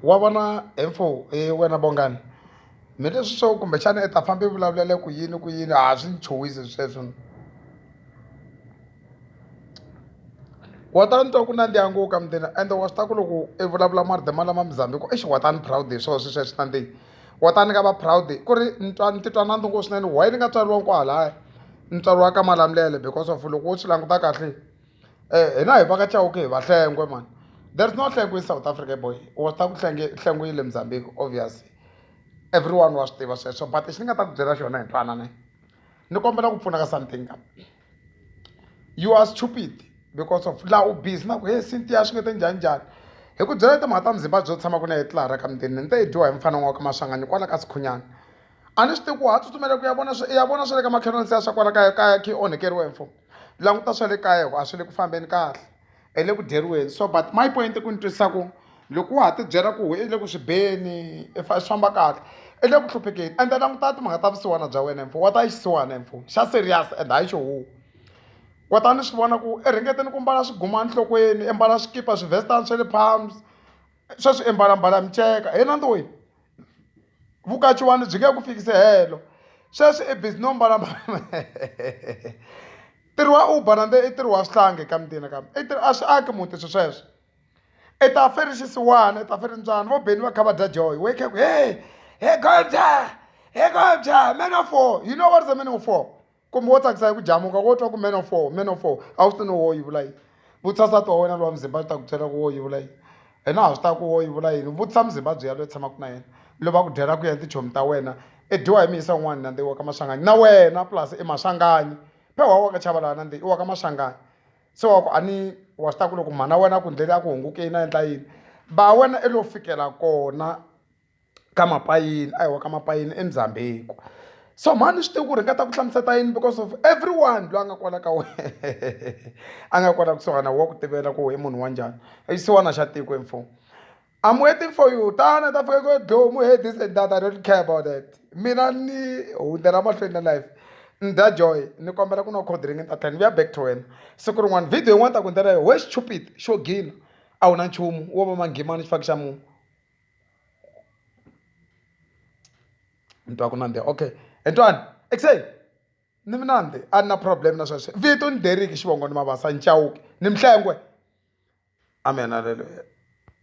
wa vona he mfo he wena Bongani me leswi swo kumbexana i ta famba i vulavulele ku yini ku yini a swi ni chuhisi sweswo ni wa ta ni twa ku nandziha ngo ka mundeni ende wa swi tiva ku loko i vulavula marito malama Muzambique exi wa ta ni proud hi swona sweswiya swi nandzihi wa ta ni nga va proud ku ri ni twa ni titwa nandzu ngo swinene why ni nga tswariwanga kwahalaya ni tswariwa ka Malamulele because of loko wo swi languta kahle. Eh hina hi va ka Chauke hi vahlengwe mhani there is no hlengwe in South Africa boy u nga ta ku hlenge hlengwe yi le Mozambique obvious everyone wa swi tiva sweswo but lexi ni nga ta ku byela xona hi twanane ni kombela ku pfunaka something ka you are stupid because of laha u busy na ku he Cynthia swi nge te njhani njhani hi ku byela timhaka ta Mzimba byo tshama ku na hi tlilara ka mutini ni te i dyiwa hi mufana n'waka Maswanganyi kwala ka Sikhunyana a ni swi tivi ku ha tsutsumela ku ya vona swi ya vona swa le ka makhelwani se ya swa kwala kaya kaya khe onhekeriwe mfo languta swa le kaya ku a swi le ku fambeni kahle i le ku dyeriweni so but my point i ku ni twisisa ku loko wa ha tibyela ku i le ku swi beni i swi famba kahle i le ku hluphekeni ende languta timhaka ta vusiwana bya wena mfo wa ta yi xisiwana mfo xa serious and hayi xo huwa kota ni swi vona ku i ringeteni ku mbala swiguma enhlokweni i mbala swikipa swivestani swa le palms sweswi i mbalambala miceka hi na ntiwini Vukachiwani byi nge ku fikisi helo. Sweswi i busy no mbala ntirho wa Uber na i ntirho wa swihlangi ka mintini nakambe i ntirho a swi aki muti swilo sweswo. I ta fe rixisiwana i ta fe rintswani vo Benny va kha va dya joy wehe kha ku he he goal dya he goal dya man of war you know what is the meaning of war. Kumbe wo tsakisa hi ku jamuka wo twa ku man of war man of war a wu swi no wo yi vula yini vutisa nsati wa wena lowa muzimba swi ta ku byela ku wo yi vula yini hina ha swi taa ku wo yi vula yini vutisa muzimbabwe ya loyi tshamaka na yena loyi va ku dyela ku ya tichomi ta wena i dyiwa hi miyisa un'wana nandzi i wa ka maxangani na wena plus i maxangani phe wa wa ka chava laha nandzi i wa ka maxangani se wa ku a ni wa swi taa ku loko mhana wena a ku ndleli a ku hungukeni a endla yini ba wena i lo fikela kona ka mapayini a hi wa ka mapayini eMzambheki so mhani ni swi tiva ku ri ni nga ta ku hlamusela ta yini because of everyone loyi a nga kwala ka wena a nga kwala kusuhana wa ku tivela ku i munhu wa njhani i xisiwana xa tiko hi mfumo I'm waiting for you tana ta fika ku ri Dlomo hear this and that I don't care about that mina ni hundzela mahlweni na life ni dya joy ni kombela ku nwa cold drink ni ta tlhela ni vuya back to wena siku rin'wana video yin'wana ni ta ku endlela yona why stupid xo gina a wu na nchumu wo va manghimani xifaki xa munhu. ni twa ku nandziha okay he twani ekuseni ni minandzi a ni na problem na sweswe vito ni Derek xivongo ni Mabasa ni Chauke ni Mhlengwe amen haleluya.